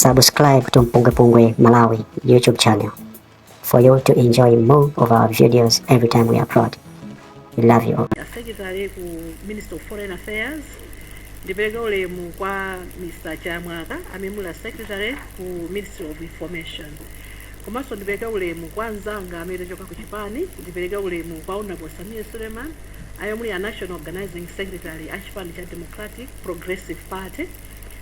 Subscribe to Mpungwepungwe Malawi YouTube channel for you to enjoy more of our videos every time we upload. We love you all. Secretary ku Ministry of Foreign Affairs ndipereke ulemu kwa Mr. Chamwaka amene muli a Secretary ku Ministry of Information komanso ndipereke ulemu kwa anzanga amene achoka ku chipani ndipereke ulemu kwa Honorable Sameer Suleman amene muli a National Organizing Secretary a chipani cha Democratic Progressive Party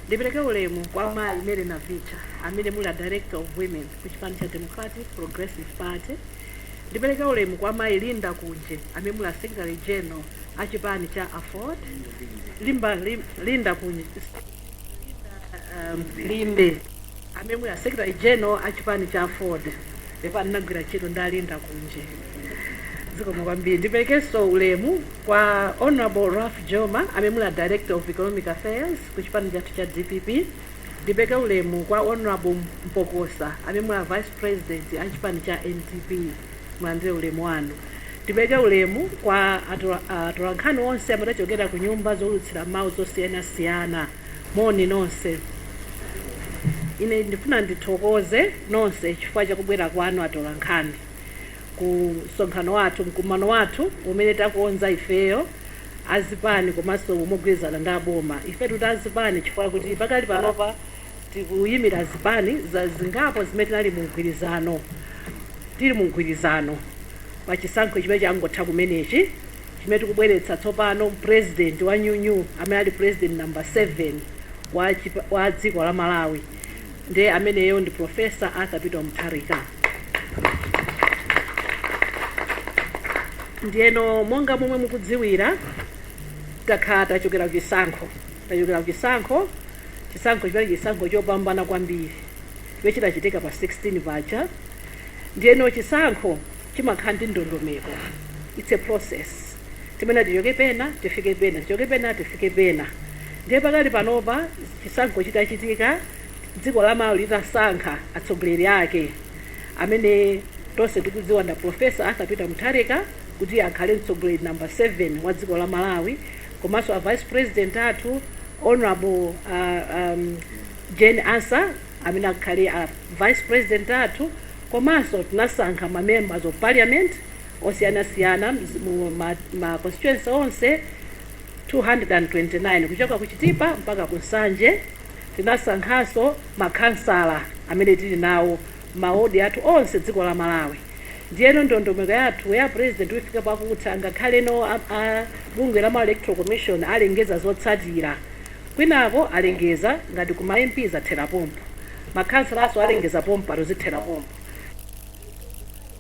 Ndipereke ulemu kwa mayi Mary Navicha amene muli a Director of Women ku chipani cha Democratic Progressive Party. Ndipereke ulemu kwa mayi Linda Kunje amene muli a Secretary General a chipani cha Aford. Limba, lim, Linda Kunje, um, Limbe, amene muli a Secretary General a chipani cha Aford. Ndipo anagwira ntchito ndi a Linda Kunje. zikomo kwambiri ndiperekenso ulemu kwa honorable ralph joma amene muli a director of economic affairs ku chipani chathu cha dpp ndipereke ulemu kwa honorable mpokosa amene muli a vice president a chipani cha ndp mulandire ulemu wanu ndipereke ulemu kwa atola- atolankhani onse amene achokera ku nyumba zowulutsira mawu zosiyanasiyana moni nonse ine ndifuna ndithokoze nonse chifukwa chakubwera kwanu atolankhani ku msonkhano wathu, mkumano wathu umene takonza ifeyo azipani komanso mogwirizana ndi aboma. Ife titi azipani chifukwa kuti pakali panopa tikuyimira zipani zingapo zimene tinali mu mgwirizano tili mu mgwirizano pa chisankho chimene changotha kumenechi chimene tikubweretsa tsopano president wa nyuwani amene ali president number 7 wa, chipa- wa dziko la Malawi nde ameneyo ndi professor arthur peter mutharika ndiyeno monga momwe mukudziwira takhala tachokera kuchisankho tachokera kuchisankho chisankho chimene chisankho chopambana kwambiri chimene chinachitika pa 16 paja ndiyeno chisankho chimakhala ndi ndondomeko its a process imene tichoke pena tifike pena tichoke pena tifike pena ndiye pakali panopa chisankho chitachitika dziko la malawi litasankha atsogoleri ake amene tonse tikudziwa nda profesa arthur peter mutharika kuti akhale mtsogoleri namba 7 wa dziko la malawi komanso a vice president athu honorable uh, um, jane ansah amene akhale a vice president athu komanso tinasankha ma members of parliament osiyanasiyana mzi- mu ma, ma constituency onse 229 kuchoka ku chitipa mpaka ku nsanje tinasankhanso makhansala amene tili nawo maodi athu onse dziko la malawi ndiyeno ndondomeko yathu ya president ifika pakuti ngakhale a- a- bungwe la malawi electoral commission alengeza zotsatira kwinako alengeza ngati ku ma mp zathera pompo makhansalaso alengeza pompo pathu zithera pompo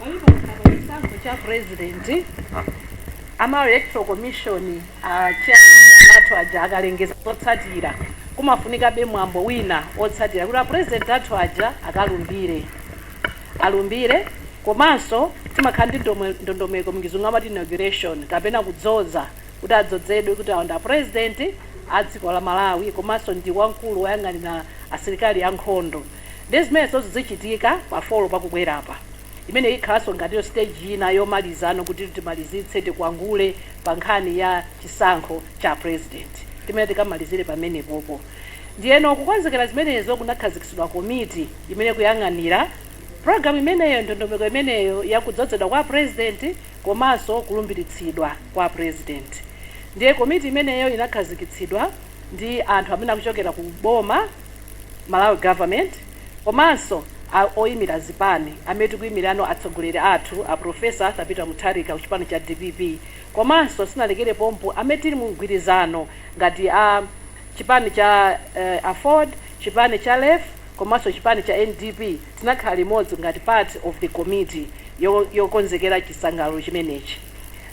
palipo koma pa chisankho cha president a malawi electoral commission anzathu aja akalengeza zotsatira kumafunikabe mwambo wina otsatira kuti apresident athu aja akalumbire alumbire komanso timakhala ndi ndome- ndondomeko m'chizungu amati inauguration kapena kudzoza kuti adzozedwe kuti awo ndi a president a dziko la Malawi komanso ndi wamkulu woyang'anira asilikali a nkhondo ndiye zimenezozo zichitika pa 4 pakubwerapa imeneyi ikhalanso ngatinso stage ina yomalizano kuti timalizitse tikwangule pa nkhani ya chisankho cha apresident timayenera tikamalizire pamenepopo ndiyeno kukonzekera zimenezo kunakhazikitsidwa komiti imene ikuyang'anira program imeneyo ndondomeko imeneyo ya kudzozedwa kwa apresident komanso kulumbiritsidwa kwa president. Ndiye komiti imeneyo inakhazikitsidwa ndi anthu amene akuchokera ku boma, Malawi Government, komanso a oyimira zipani amene tikuyimirano atsogoleri athu a Prof. Arthur Peter Mutharika ku chipani cha dpp komanso sitinalekere pompo amene tili mu mgwirizano ngati a chipani cha Aford, chipani cha lefu komanso chipani cha ndp. Tinakhala limodzi ngati part of the committee yo yokonzekera chisangalalo chimenechi.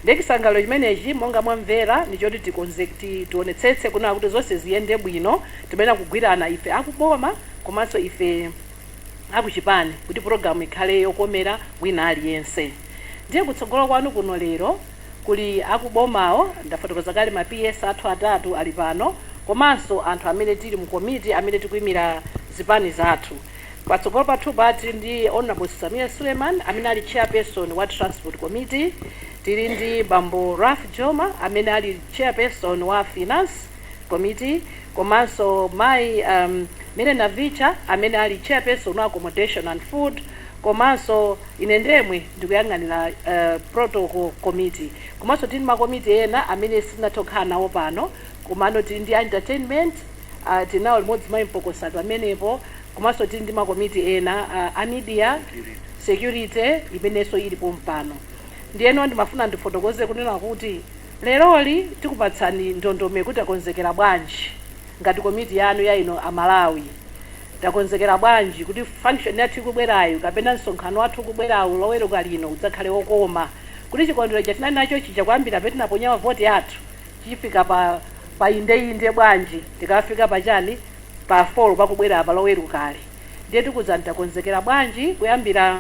Ndiye chisangalalo chimenechi monga mwamvera ndi choti tikonze kuti tionetsetse kunena kuti zonse ziyende bwino timayenera kugwirana ife a ku boma komanso ife a ku chipani kuti program ikhale yokomera wina aliyense. Ndiye kutsogolo kwanu kuno lero kuli a ku bomawo, ndafotokoza kale ma PS athu atatu ali pano komanso anthu amene tili mu committee amene tikuimira zipani zathu. Patsogolo pathupa tili ndi Hon Sameer Suleiman amene ali Chairperson wa Transport Committee, tili ndi bambo Ralph Jooma amene ali Chairperson wa Finance Committee komanso mayi um Mary Navicha amene ali Chairperson wa Accommodation and Food komanso ine ndemwe ndikuyang'anira uh Protocol Committee komanso tili ndi ma committee ena amene sitinathe kukhala nawo pano komano tili ndi a entertainment ah, tili nawo limodzi mayi mpokosa pamenepo komanso tili ndi makomiti ena ah, a media security imenenso ili pompano ndiyeno ndimafuna ndifotokoze kunena kuti leroli tikupatsani ndondomeko kuti takonzekera bwanji ngati komiti yanu ya inu Amalawi takonzekera bwanji kuti function yathu ikubwerayo kapena msonkhano wathu ukubwerawo loweruka lino udzakhale wokoma kuti chikondwerero chomwe tinali nacho chija kuyambira pamene tinaponya mavoti athu chifika pa pa indeinde bwanji tikafika pa chani pa folo pakubwera apa lowerukali ndiye tikuuzani takonzekera bwanji kuyambira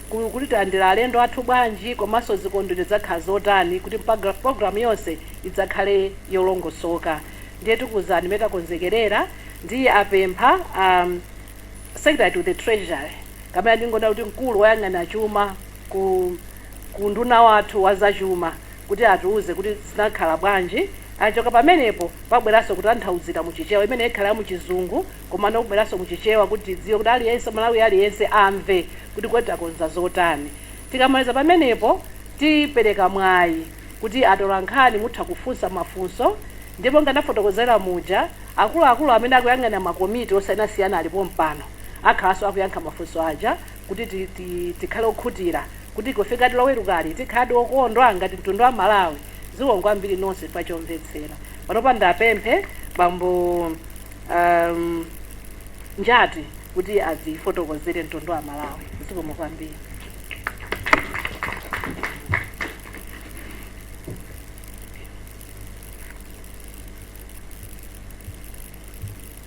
ku- kuti tilandira alendo athu bwanji komanso zikondwerero zikhala zotani kuti mpaga- programu yonse idzakhale yolongosoka ndiye tikuuzani mmene takonzekerera ndiye ndapempha um, secretary to the treasury kapena ndingonena kuti mkulu woyang'ana chuma ku ku nduna wathu wa zachuma kuti atiuze kuti zinakhala bwanji, kuchoka pamenepo pabweranso kutanthauzira mu Chichewa, imeneyo ikhala ya mu Chizungu komano kubweranso mu Chichewa kuti tidziwe kuti aliyense, Mmalawi aliyense amve kuti kodi takonza zotani. Tikamaliza pamenepo tipereka mwayi kuti atolankhani mutha kufunsa mafunso ndiye monga ndafotokozera muja, akuluakulu amene akuyang'anira makomiti osiyanasiyana ali pompano akhalanso akuyankha mafunso aja. kuti tikhale okhutira kuti kufikadi lowerukali tikhaladi okondwa ngati mtundu wa Amalawi zikomo kwambiri nonse chifukwa chomvetsera panopa ndiwapemphe bambo um, njati kuti adzafotokozere mtundu wa Amalawi zikomo kwambiri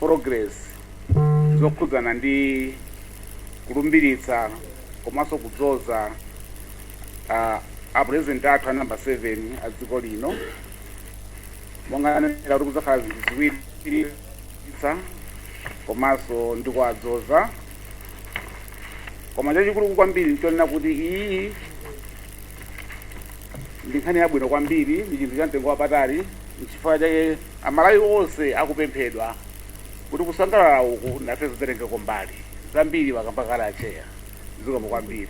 progress zokhudzana ndi kulumbiritsa komanso kudzoza ah, a president athu a namba 7 a dziko lino monga anenera kuti kudzakhala zinthu ziwiri kulumbiritsa komanso ndi kuwadzoza koma chachikulu kwambiri nchonena kuti iyi ndi nkhani yabwino kwambiri ndi chinthu cha mtengo wapatali nchifukwa chake Amalawi onse akupemphedwa kuti kusangalala uku nafenso titengeko mbali. Zambiri akamba kale Atcheya. Zikomo kwambiri.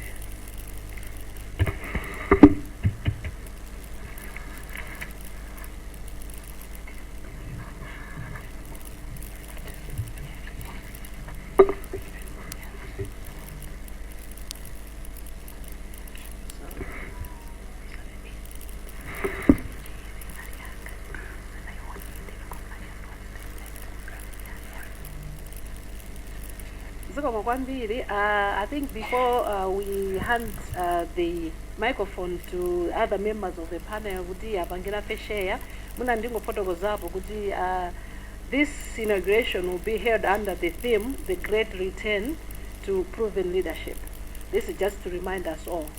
zikomo kwambiri uh, i think before uh, we hand uh, the microphone to other members of the panel kuti apangire afe share muna ndingofotokozapo kuti uh, this inauguration will be held under the theme the great return to proven leadership this is just to remind us all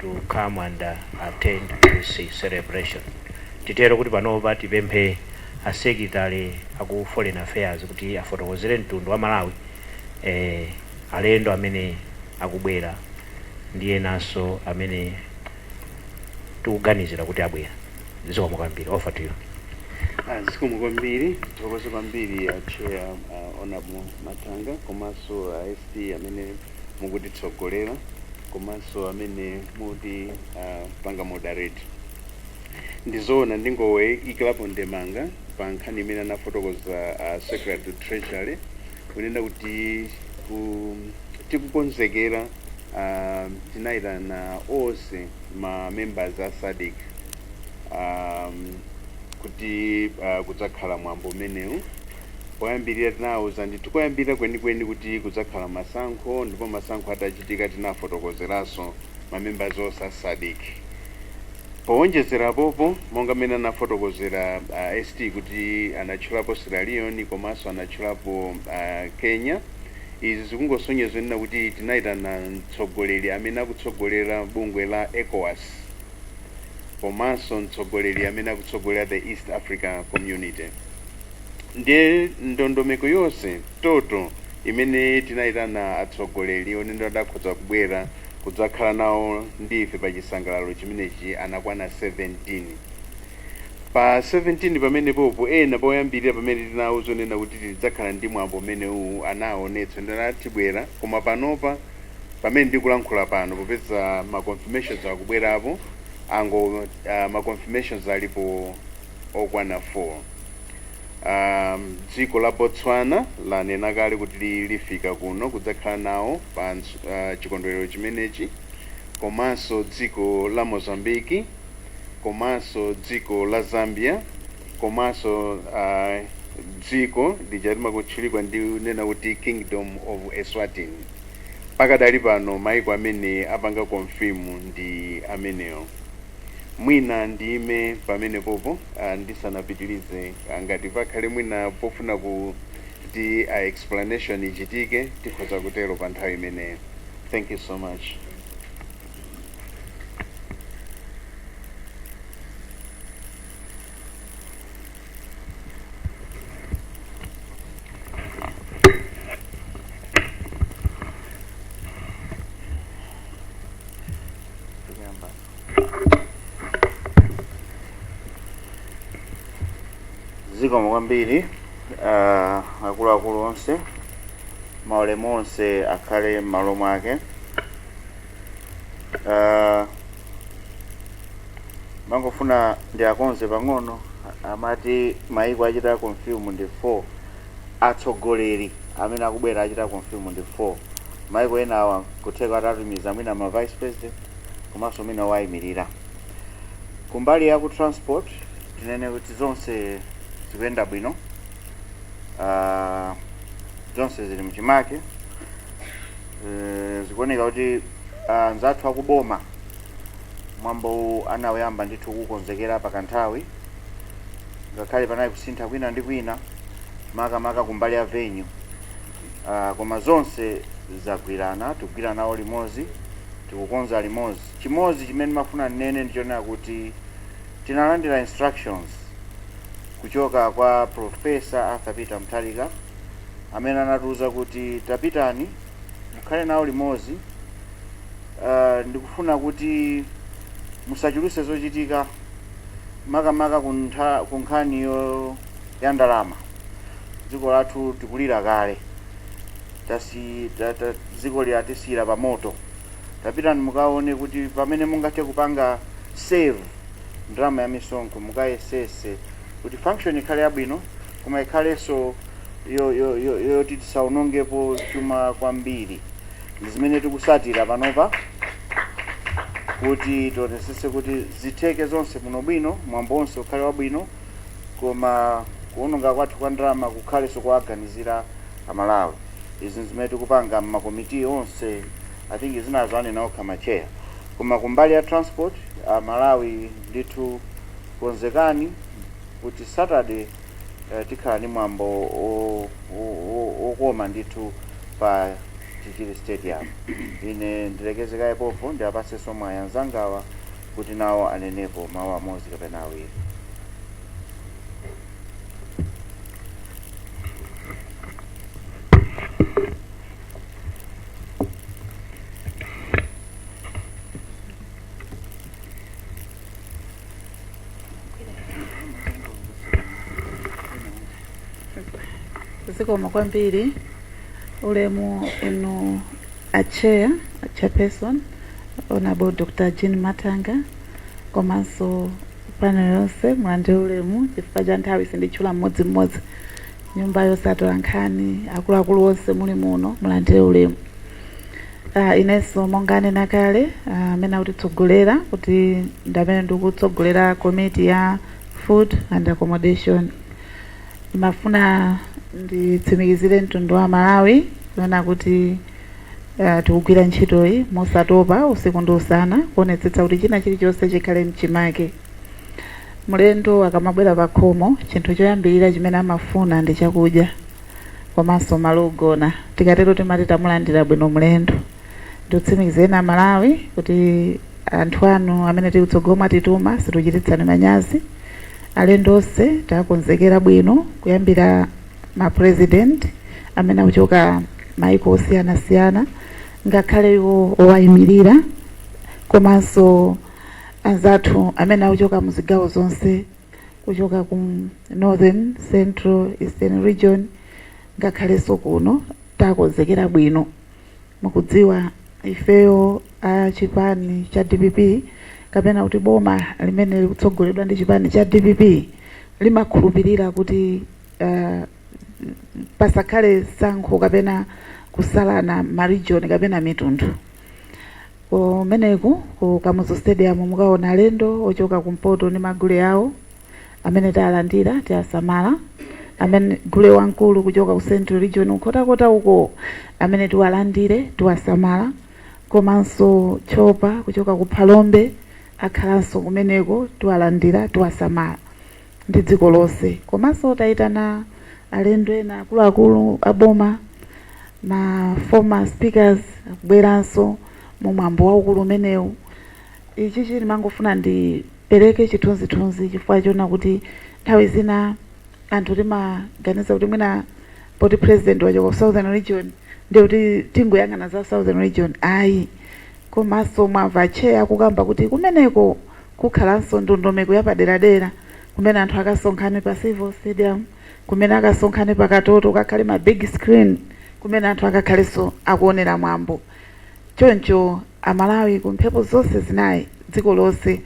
to come and attend this celebration titero kuti panopa tipemphe a secretary aku foreign affairs kuti afotokozere mtundu wa malawi eh, alendo amene akubwera ndi enanso amene tikuganizira kuti abwera zikomo kwambiri over to you Ah, zikomo kwambiri tithokoze kwambiri acheya Honourable Matanga komanso a ST amene mukutitsogolera komanso amene mutipanga moderate ndizoona ndingoyikirapo ndemanga pa nkhani imene anafotokoza uh, secretary to treasury kunena kuti ku, tikukonzekera uh, tinayitana onse ma members a SADC um, kuti uh, kudzakhala mwambo umenewu Poyambirira tinawauza ndithu koyambirira kwenikweni kuti kudzakhala masankho ndipo masankho atachitika tinafotokozeranso ma members onse a Sadc. Powonjezera apopo monga mmene anafotokozera a ST kuti anatchulapo Sierra Leone komanso anatchulapo a Kenya, izi zikungosonyeza kunena kuti tinayitana mtsogoleri amene akutsogolera bungwe la Ecowas komanso mtsogoleri amene akutsogolera the East Africa Community. Ndiye ndondomeko yonse toto imene tinayitana atsogoleri onena kuti akhoza kubwera kudzakhala nawo ndi ife pa chisangalalo chimenechi anakwana 17. Pa 17 pamenepopo ena poyambirira pamene tinawauza onena kuti tidzakhala ndi mwambo umenewuwu anawonetsa wonena kuti tibwera koma panopa pamene ndikulankhula pano popeza ma confirmations akubwerapo ango ah, ma confirmations alipo okwana 4. Um, dziko la Botswana lanena kale kuti li- lifika kuno kudzakhala nawo pa ns- ah, chikondwerero chimenechi komanso dziko la Mozambique komanso dziko la Zambia komanso ah, dziko lija timalitchula kunena kuti Kingdom of Eswatini Pakadali pano maiko amene apanga confirm ndi amenewo. Mwina ndiime pamenepopo ndisanapitilize ngati pakhale mwina pofuna kuti explanation ichitike tikhoza kutero pa nthawi imeneyo. Thank you so much. zikomo kwambiri ah, akuluakulu onse maulemu onse akhale m'malo mwake Ah, ndimangofuna ndiakonze pang'ono a- amati maiko achita confirm ndi 4 atsogoleri amene akubwera achita confirm ndi 4 maiko ena awa kutheka atatumiza mwina ma vice president komanso mwina wayimirira kumbali ya ku transport tinene kuti zonse zikuyenda bwino uh, zonse zili mchimake uh, zikuoneka kuti anzathu uh, akuboma mwambo anawuyamba ndithu kukonzekera pakanthawi ngakhale panali kusintha kwina ndi kwina makamaka kumbali ya venue uh, koma zonse zagwirana tikugwira nawo limodzi tikukonza limodzi chimodzi chimene ndimafuna ndinene ndichonena kuti Tinalandira instructions kuchoka kwa Prof. Arthur Peter Mutharika amene anatiuza kuti tapitani mukhale nawo limodzi uh, ndikufuna kuti musachuluse zochitika makamaka kuntha- ku nkhani yo- ya ndalama dziko lathu tikulira kale tasi ta, ta, dziko latisiyira pa moto tapitani mukaone kuti pamene mungathe kupanga save ndalama ya misonkho mukayesese kuti function ikhale yabwino koma ikhalenso yo- yo- yo- yoti tisaonongepo chuma kwambiri ndi zimene tikusatira panopa kuti tionesese kuti zitheke zonse muno bwino mwambo onse ukhale wabwino koma kuononga kwathu kwa ndalama kukhalenso kuwaganizira a Malawi. Izi nzimene tikupanga mma committee onse. I think zinazo anena okha ma chair. Koma kumbali ya transport, a Malawi ndithu konzekani kuti Saturday tikhala ndi mwambo okoma ndithu pa Chichiri stadium. Ine ndilekeze kaye pompo ndiwapasenso mwayi anzangawa kuti nawo anenepo mawu amodzi kapena awiri. zikomo kwambiri ulemu inu a chair a chairperson honorable dr jean matanga komanso Panel yonse mulandire ulemu chifukwa cha nthawi sinditchula mmodzi mmodzi. Nyumba yonse atolankhani, akuluakulu onse muli muno mulandire ulemu. Ah, inenso monga anena kale ah, amene akutitsogolera kuti ndi amene ndikutsogolera komiti ya food and accommodation. Ndimafuna nditsimikizire mtundu wa Malawi kunena kuti Ah, tikugwira ntchitoyi mosatopa usiku ndi usana kuonetsetsa kuti china chilichonse chikhale m'chimake mlendo akamabwera pa khomo chinthu choyambirira chimene amafuna ndi chakudya komanso malo ogona tikatero timati tamulandira bwino mlendo ndikutsimikizireni amalawi kuti anthu anu amene tili kutsogolo mwatituma situchititsani manyazi alendo onse takonzekera bwino kuyambira ma president amene akuchoka maiko osiyanasiyana ngakhale iwo owayimirira komanso anzathu amene akuchoka mu zigawo zonse kuchoka ku northern central eastern region ngakhalenso kuno takonzekera bwino Mukudziwa, ifeyo a chipani cha dpp kapena kuti boma limene likutsogoleredwa ndi chipani cha dpp limakhulupirira kuti uh, pasakhale sankho kapena kusalana marijoni kapena mitundu kumeneku ku Kamuzu Stadium mukaona alendo ochoka kumpoto ndi magule awo amene tawalandira tiwasamala, a gule wamkulu kuchoka ku Central Region Nkhotakota uko amene tiwalandire tiwasamala komanso Tchopa kuchoka ku Phalombe akhalanso kumeneko tiwalandira tiwasamala ndi dziko lonse komanso tayitana alendo ena akuluakulu a boma ma former speakers akubweranso mu mwambo waukulu umenewu ichichi ndimangofuna ndi Ndipereke chithunzithunzi chifukwa choona kuti nthawi zina anthu timaganiza kuti mwina poti president wachoka ku southern region ndiye kuti tingoyang'ana za southern region ayi komanso mwamva a chair akukamba kuti kumeneko kukhalanso ndondomeko yapaderadera kumene anthu akasonkhane pa Civo Stadium kumene akasonkhane pa Katoto kukakhale ma big screen kumene anthu akakhalenso akuonera mwambo choncho Amalawi ku mphepo zonse zinayi dziko lonse,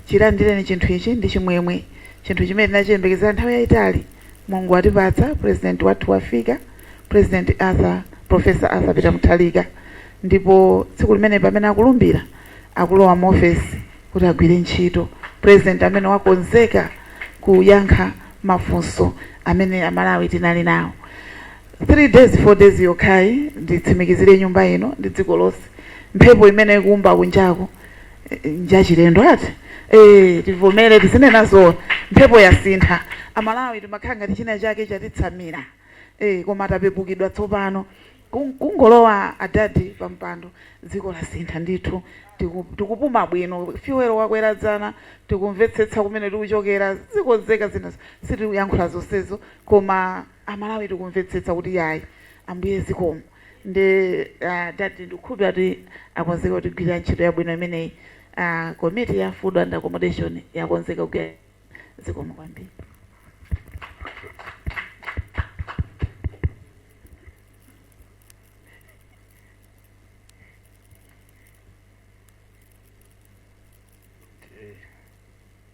chilandireni chinthu ichi ndi chimwemwe. Chinthu chimene tinachiyembekezera nthawi yayitali Mulungu watipatsa, Purezidenti wathu wafika, Purezidenti Arthur, Professor Arthur Peter Mutharika ndipo tsiku limene pamene akulumbira akulowa mu ofesi kuti agwire ntchito, Purezidenti amene wakonzeka kuyankha mafunso amene Amalawi tinali nawo. 3 days 4 days yokhayi nditsimikizire nyumba ino ndi dziko lonse mphepo imene ikuwomba kunjaku n'njachilendo ati ee tivomere tizinena zoona mphepo yasintha amalawi timakhala ngati china chake chatitsamira ee koma tapepukidwa tsopano Ku- kungolowa adadi pampando dziko lasintha ndithu Tiku- tikupuma bwino fuel wakwera dzana tikumvetsetsa kumene tikuchokera zikonzeka zina sitiyankhula zonsezo koma a Malawi tikumvetsetsa kuti yayi ambuye zikomo nde adadi ndikukhulupilira kuti akonzeka kutigwirira ntchito yabwino imeneyi komiti ya food and accommodation yakonzeka kugwira zikomo kwambiri.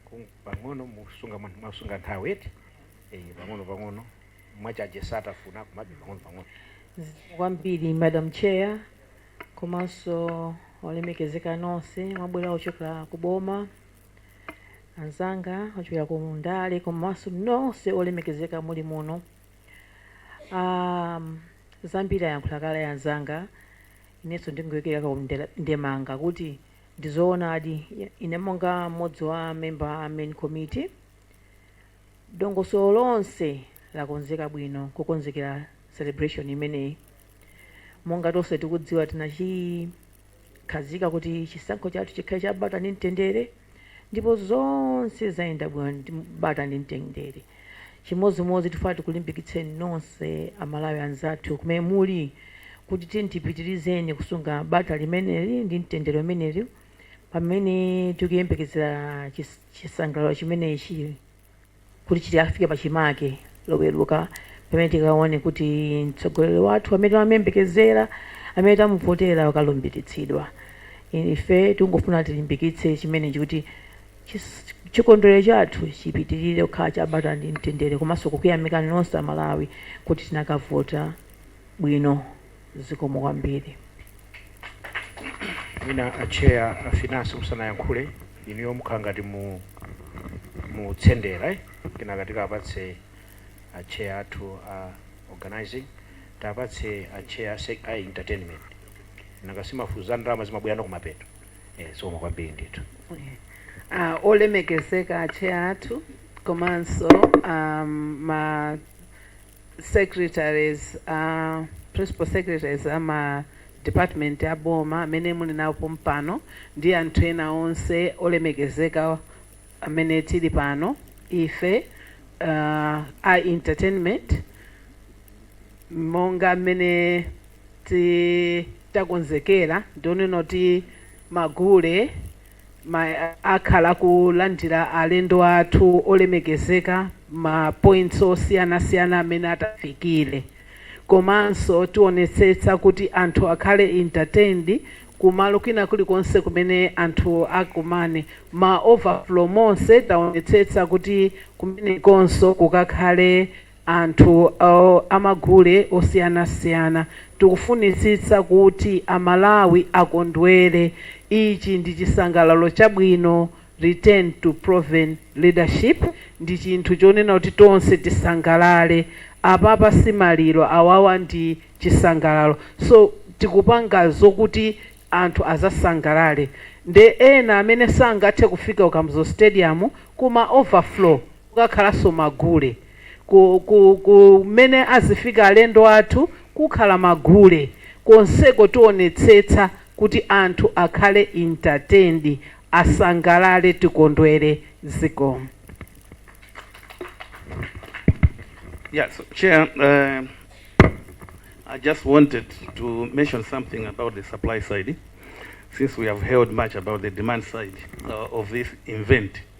Kung- pang'ono musunga mwa- mwasunga nthawi eti eh, pang'ono pang'ono mwachaje satafuna koma pang'ono pang'ono kwambiri madam chair komanso olemekezeka nonse mwabwera kuchokera ku boma anzanga ochokera ku ndale komanso nonse olemekezeka muli muno um, zambiri ayankhula kale anzanga inenso ndingoyikira ndemanga kuti Ndi zoonadi, ine monga m'modzi wa ma member a main committee, dongosolo lonse lakonzeka bwino kukonzekera celebration imeneyi. Monga tonse tikudziwa tinachikhazika kuti chisankho chathu chikhale cha bata ndi mtendere ndipo zonse zayenda bwino ndi bata ndi mtendere. Chimodzimodzi tifuna tikulimbikitseni nonse a Malawi anzathu kumene muli kuti tiyeni tipitilize kusunga bata limeneli ndi mtendere umenewu pamene tikuyembekezera chisangalalo chimenechi kuti chikafike pachimake loweruka pamene tikaone kuti mtsogoleri wathu amene timamuyembekezera amene tamuvotera wakalumbiritsidwa. Ife tikungofuna tilimbikitse chimenechi kuti Chikondwelero chathu chipitilire kukhala cha bata ndi mtendere komanso kukuyamikani nonse a Malawi kuti tinakavota bwino zikomo kwambiri. Mwina a chair a finance musanayankhule inuyo mukhala ngati mukutsendera kenaka tikawapatse a chair athu a organizing tiwapatse a chair a entertainment nanga si mafunso za ndalama zimabwerano kumapeto. Eh, zikomo kwambiri ndithu Ah, olemekezeka a chair athu komanso um, ma secretaries uh, principal secretaries ama department a boma amene tili nawo pompano ndi anthu ena onse olemekezeka amene tili pano ife uh, a entertainment monga mmene ti takonzekera ndi onena kuti magule akhala akulandira alendo athu olemekezeka ma points osiyanasiyana amene atafikire komanso tionetsetsa kuti anthu akhale entertained kumalo kwina kulikonse kumene anthu akumane ma overflow monse taonetsetsa kuti kumenekonso kukakhale anthu a magule osiyanasiyana. Tikufunitsitsa kuti a Malawi akondwere. Ichi ndi chisangalalo chabwino, return to proven leadership, ndi chinthu chonena kuti tonse tisangalale. Apapa si maliro, awawa ndi chisangalalo. So tikupanga zokuti anthu adzasangalale. Nde ena amene sangathe kufika ku Kamuzu Stadium, ku ma overflow. kukakhalanso magule. Ku, ku, ku, kumene azifika alendo athu, kukhala magule konseko tionetsetsa kuti anthu akhale entertained, asangalale tikondwere. Zikomo. Yeah, so Chair, uh, I just wanted to mention something about the supply side, since we have heard much about the demand side uh, of this event.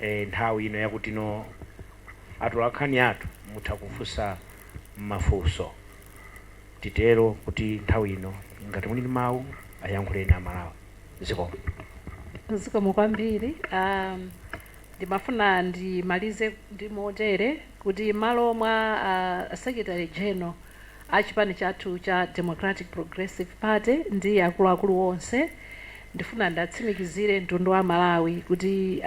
eh, nthawi ino ya kuti no atolakhani athu mutha kufunsa mafunso titero kuti nthawi ino ngati muli ndi mawu ayankhuleni Amalawi zikomo zikomo kwambiri um, ndimafuna ndimalize ndi motere kuti m'malo mwa uh, secretary general a chipani chathu cha Democratic Progressive Party ndi akuluakulu onse, ndifuna ndiwatsimikizire mtundu wa Malawi kuti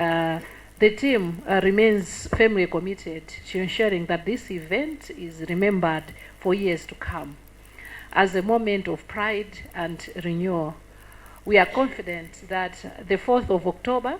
the team remains firmly committed to ensuring that this event is remembered for years to come as a moment of pride and renewal. We are confident that the 4th of October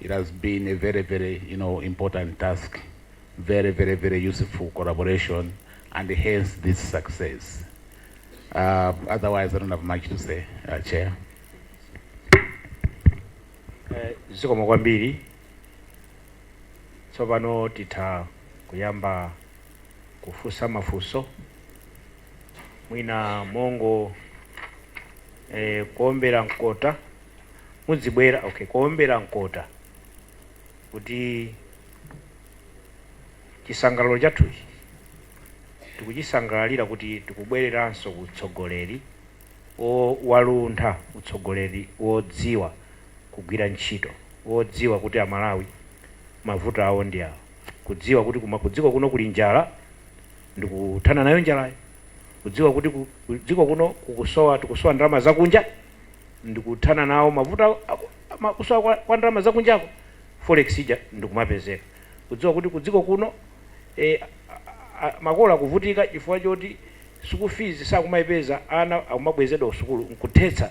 It has been a very, very, you know, important task, very, very, very useful collaboration, and hence this success. Uh, otherwise, I don't have much to say, uh, Chair. Eh, zikomo kwambiri tsopano titha kuyamba kufunsa mafunso mwina mongo eh, kuombera mkota Mudzibwera, okay, kuwombera mkota kuti chisangalalo chathuchi tikuchisangalalira kuti tikubwereranso ku utsogoleri o, waluntha, utsogoleri wodziwa kugwira ntchito, wodziwa kuti a Malawi mavuto awo ndi awa, kudziwa kuti kuma, kudziko kuno kuli njala ndikuthana nayo njalayo, kudziwa kuti ku, kudziko kuno kukusowa, tikusowa ndalama zakunja ndikuthana nawo mavuto a kusowa kwa ndalama za kunjako, forex ija ndikumapezeka. Kudziwa kuti ku dziko kuno makolo akuvutika chifukwa choti sukulu fees sakumaipeza, ana akumabwezedwa ku sukulu, nkuthetsa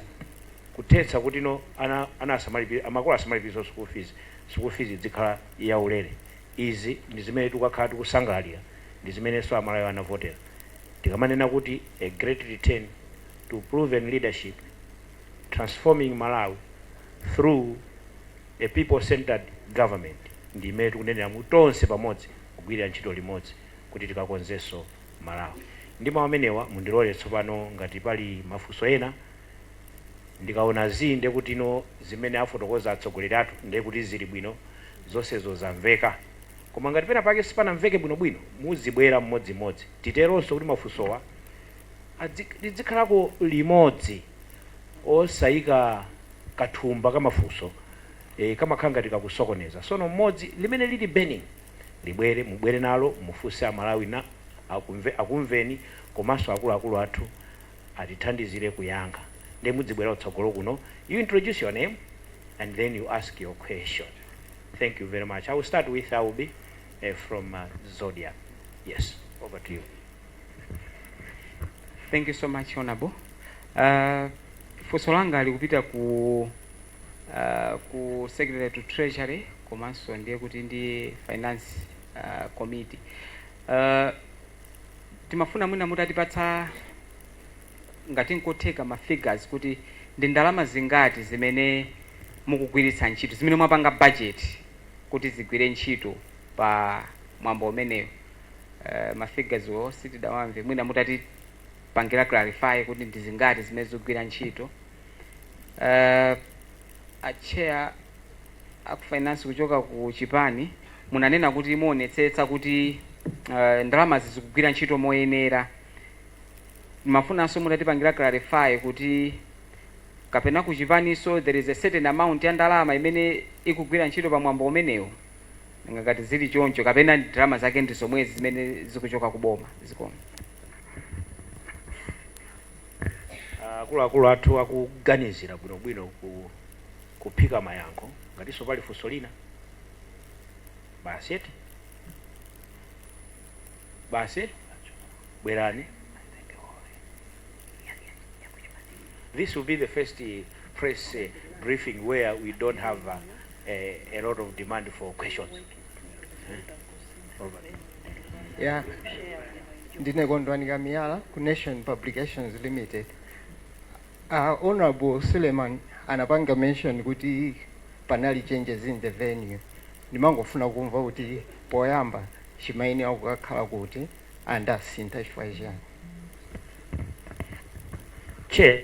kuthetsa kuti no ana ana asamalipire makolo asamalipirenso sukulu fees, sukulu fees idzikhala ya ulere. Izi ndi zimene tikukakhala tikusangalalira, ndi zimenenso a Malawi anavotera. Tikamanena kuti a great return. to proven leadership, transforming Malawi through a people centred government ndi imene tikunenera kuti tonse pamodzi kugwirira ntchito limodzi kuti tikakonzenso Malawi. Ndi mau amenewa mundilole tsopano ngati pali mafunso ena, ndikaona zii ndiye kutino zimene afotokoza atsogoleri athu ndiye kuti zili bwino zonsezo zamveka koma ngati penapake sipanamveke bwinobwino muzibwera mmodzimmodzi titerenso kuti mafunsowa lidzikhalako limodzi osayika kathumba kamafunso e kamakhala ngati kakusokoneza sono mmodzi limene lili burning libwere mubwere nalo mufunse aMalawi akumveni komanso akuluakulu athu atithandizire kuyankha ndiye mudzibwera kutsogolo kuno you introduce your name and then you ask your question thank you very much i will start with i will be from zodiac yes over to you Thank you so much honorable. Uh, funso langa likupita ku uh, ku secretary to treasury komanso ndiye kuti ndi finance uh, committee. Uh, timafuna mwina mutatipatsa ngati nkotheka ma figures kuti ndi ndalama zingati zimene mukugwiritsa ntchito zimene mwapanga budget kuti zigwire ntchito pa mwambo umenewu uh, ma figures wo sitidawamve mwina mutatipangira clarify kuti ndi zingati zimene zikugwira ntchito uh, achair akufinance kuchoka ku chipani munanena kuti muonetsetsa kuti uh, ndalamazi zikugwira ntchito moyenera timafunanso mutatipangira clarify kuti kapena kuchipaninso there is a certain amount ya ndalama imene ikugwira ntchito pa mwambo umenewo Nanga ngati zili choncho kapena ndalama zake ndi zomwezi zimene zikuchoka ku boma? Zikomo. Akuluakulu athu akuganizira bwino bwino kuphika mayankho. Ngatinso pali funso lina? Basi eti? Basi? Bwerani. This will be the first press briefing where we don't have uh, a lot of demand for questions. ya ndine kondwani kamiyala ku nation publications limited uh, honorable suleiman anapanga mention kuti panali changes in the venue ndimangofuna kumva kuti poyamba chimayenera kukakhala kuti ndi anasintha chifukwa chiyani Chair,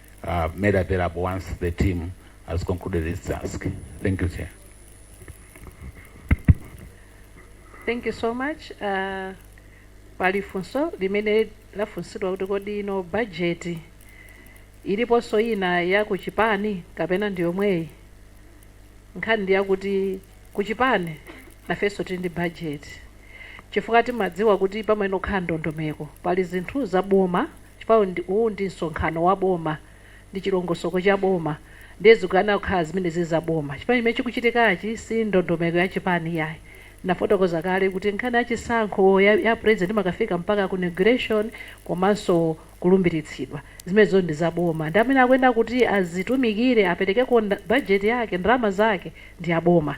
uh, made available once the team has concluded its task. Thank you, Chair. Thank you so much. Uh, pali funso limene lafunsidwa kuti kodi ino bajeti iliponso ina ya kuchipani kapena ndi yomweyi nkhani ndi yakuti kuchipani ifenso tili ndi bajeti chifukwa timadziwa kuti pamayenera kukhala ndondomeko pali zinthu za boma chifukwa uyu ndi, uwu ndi msonkhano wa boma, ndi chilongosoko cha boma, ndiye zikuyenera kukhala zimene ziri za boma, chifukwa chimene chikuchitikachi si ndondomeko ya chipani iyayi. Ndinafotokoza kale kuti nkhani ya chisankho ya, ya president imakafika mpaka ku inauguration komanso kulumbiritsidwa, zimenezo ndi za boma, ndi amene akuyenera kuti azitumikire, aperekeko nda, budget yake, ndalama zake ndi a boma.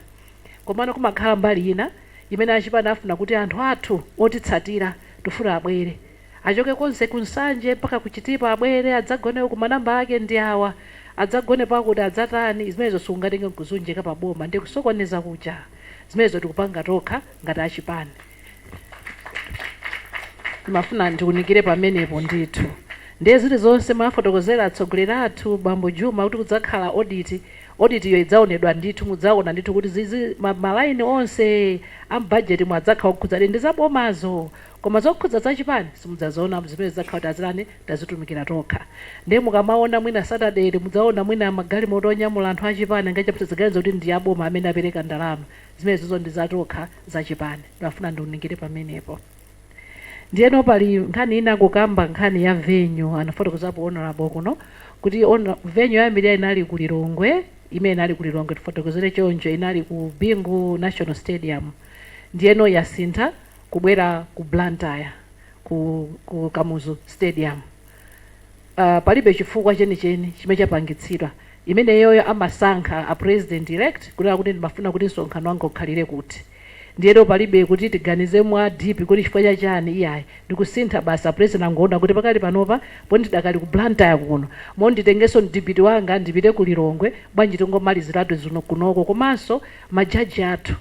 Komano kumakhala mbali ina imene a chipani afuna kuti anthu athu otitsatira tifuna abwere. Achoke konse ku Nsanje mpaka ku Chitipa abwere adzagone uku manamba ake ndi awa. Adzagone pakuti adzatani? Zimenezo sitingatenge nkuziunjika pa boma ndiye kusokoneza kuja. Zimenezo tikupanga tokha ngati a chipani. Ndimafuna ndiunikire pamenepo ndithu. Ndiye zilizonse mwafotokozera atsogoleri athu, bambo Juma, kuti kudzakhala audit, audit yo idzaonedwa ndithu mudzaona ndithu kuti zi- zi- ma ma line onse a m'budget mu adzakhala okhudzadi ndi za bomazo. Koma zokhudza za chipani simudzaziona m'mizimenezi tidzakhala kuti a chipani tazitumikira tokha. Ndiye mukamaona mwina Saturday ili mudzaona mwina magalimoto onyamula anthu a chipani angapo musadzaganize kuti ndi a boma amene apereka ndalama. Zimenezozo ndi za tokha za chipani. Ndimafuna ndiunikire pamenepo. Ndiyeno pali nkhani ina kukamba nkhani ya venue anafotokozapo Honourable kuno kuti honor venue yoyambirira inali ku Lilongwe imene inali ku Lilongwe tifotokozere choncho inali ku Bingu National Stadium ndiyeno yasintha kubwera ku Blantyre ku ku Kamuzu stadium uh, palibe chifukwa chenicheni chimene chapangitsidwa imeneyoyo amasankha a president elect kunena kuti ndimafuna kuti msonkhano wanga ukhalire kuti ndiyeno palibe kuti tiganize mwa deep kuti chifukwa cha chani iyayi ndikusintha basi a president angoona kuti pakali panopa poti ndidakali ku Blantyre kuno mo nditengenso mdipiti wanga ndipite ku Lilongwe bwanji tingomaliziratu zino kunoko komanso majaji athu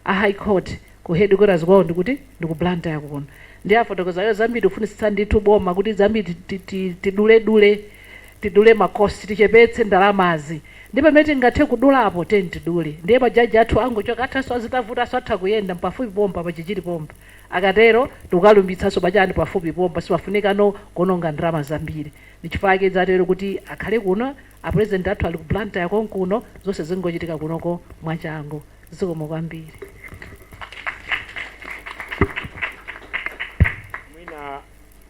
a high court ku headquarters kwawo ndikuti ndi ku Blantyre kuno ndiye afotokoza iwo zambiri tikufunitsitsa ndithu boma kuti zambiri ti- ti- ti- tidule dule tidule ma cost tichepetse ndalamazi ndi pamene tingathe kudulapo tiyeni tidule ndiye ma judge athu angochoka athanso sazavutikanso atha kuyenda pafupi pompa pa chichiri pompa akatero ndikukalumbiritsanso pachani pafupi pompa sipafunikano kuononga ndalama zambiri ndichifukwa chake zatero kuti akhale kuno a president athu ali ku Blantyre konkuno zonse zingochitika kunoko mwachangu zikomo kwambiri mwina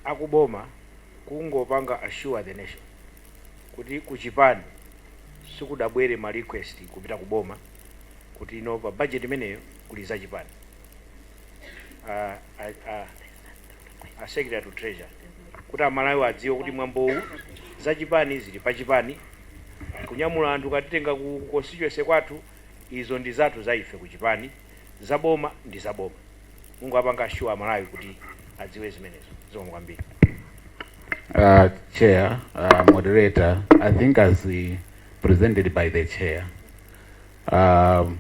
akuboma kungowapanga assure the nation kuti kuchipani sikudabwere ma request kupita kuboma kuti you know pa budget imeneyo kuli za chipani a, a, a, a secretary to treasury kuti amalawi adziwe kuti mwambowu za chipani zili pa chipani kunyamula anthu katitenga ku constituency kwathu Izo ndi zathu za ife ku chipani, za boma ndi za boma. Mungowapanga assure a Malawi kuti adziwe zimenezo. Zikomo kwambiri. Uh, chair, uh, moderator, I think as uh, presented by the chair, um,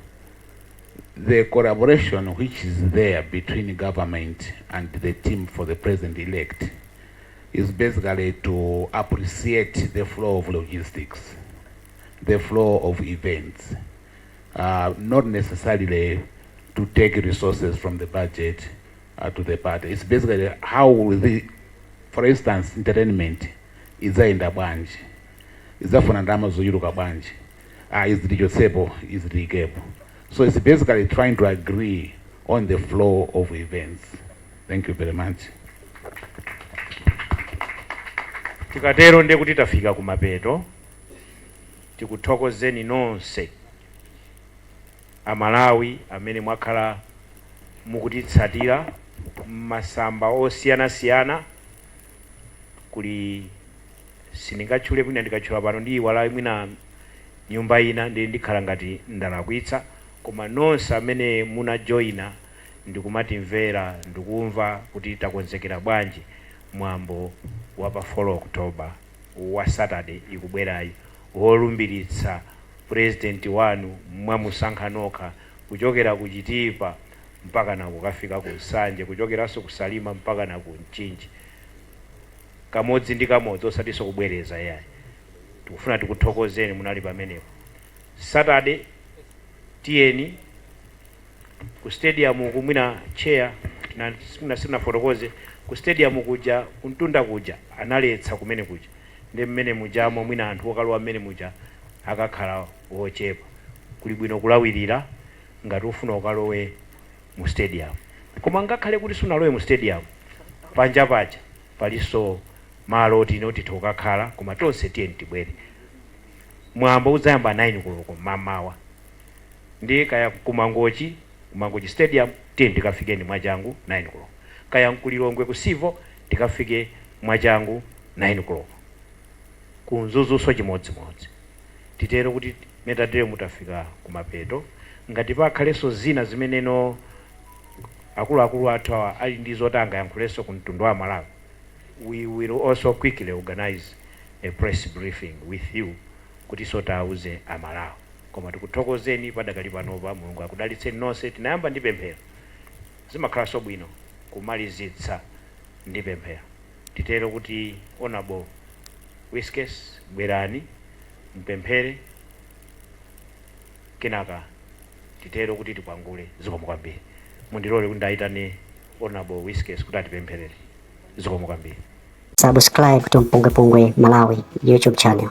the collaboration which is there between government and the team for the president-elect is basically to appreciate the flow of logistics. the flow of events uh, not necessarily to take resources from the budget uh, to the party. It's basically how will the, for instance, entertainment idzayenda bwanji idzafuna ndalama zochuluka bwanji ah, izi tichotsepo izi tiikepo so it's basically trying to agree on the flow of events thank you very much tikatero ndiye kuti tafika kumapeto Tikuthokozeni nonse a Malawi amene mwakhala mukutitsatira m'masamba osiyanasiyana, kuli sindingatchule mwina ndikatchula pano ndiyiwala mwina nyumba ina ndiye ndikhala ngati ndalakwitsa, koma nonse amene muna joina ndikumatimvera ndikumva kuti takonzekera bwanji mwambo wa pa 4 October. wa Saturday ikubwerayi wolumbiritsa President wanu mwamusankha nokha kuchokera ku Chitipa mpakana kukafika ku Nsanje kuchokeranso ku Salima mpakana ku Mchinji kamodzi ndi kamodzi osatinso kubwereza iyayi tikufuna tikuthokozeni munali pamenepo Saturday tiyeni Ku stadium uku mwina chair simunafotokoze, ku stadium kuja kumtunda kuja analetsa kumene kuja nde mmene mujamo mwina anthu okalowa mmene muja akakhala ochepa kuli bwino kulawirira ngati ufuna ukalowe mu stadium koma ngakhale kuti sunalowe mu stadium panja paja palinso malo oti titha kukakhala koma tonse tiyeni tibwere mwambo udzayamba 9 koloko mmamawa. Ndiye kaya ku Mangochi, ku Mangochi Stadium, tiyeni tikafikeni mwachangu 9 koloko. Kaya n'ku Lilongwe ku Civo, tikafike mwachangu 9 koloko. Ku Mzuzunso chimodzimodzi. Titero kuti mmene tateremu tafika kumapeto. Ngati pakhalenso zina zimene akuluakulu athu awa ali ndi zoti angayankhulenso ku mtundu wa Amalawi, we will also quickly organize a press briefing with you kutinso tiauze Amalawi. Koma tikuthokozeni padakali panopa. Mulungu akudalitseni nonse. Tinayamba ndi pemphero. Zimakhalanso bwino kumalizitsa ndi pemphero. Titero kuti Hon. Wiskes bwerani mupemphere kenaka titero kuti tikwangule. Zikomo kwambiri. Mundilole kuti ndiwayitane Hon. Wiskes kuti atipempherere. Zikomo kwambiri. Subscribe to Mpungwepungwe Malawi YouTube channel.